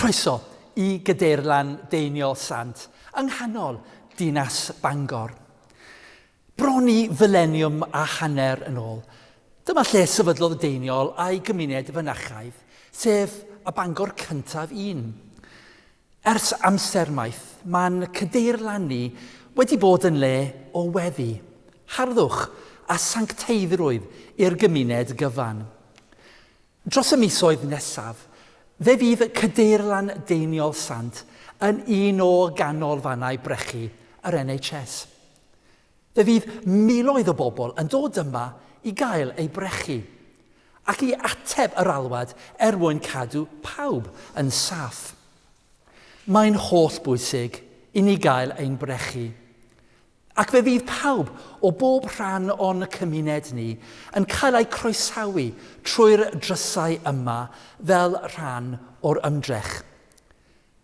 Croeso i Gydeirlan Deiniol Sant yng nghanol dinas Bangor. Bron i fyleniwm a hanner yn ôl, dyma lle sefydlodd y Deiniol a'i gymuned fynachaidd, sef y Bangor cyntaf un. Ers amser maith, mae'n cadeirlannu wedi bod yn le o weddi, harddwch a sancteiddrwydd i'r gymuned gyfan. Dros y misoedd nesaf, fe fydd Cadeirlan Deiniol Sant yn un o ganolfannau brechu yr NHS. Fe fydd miloedd o bobl yn dod yma i gael eu brechu ac i ateb yr alwad er mwyn cadw pawb yn saff. Mae'n hollbwysig i ni gael ein brechu, ac fe fydd pawb o bob rhan o'n cymuned ni yn cael eu croesawu trwy'r drysau yma fel rhan o'r ymdrech.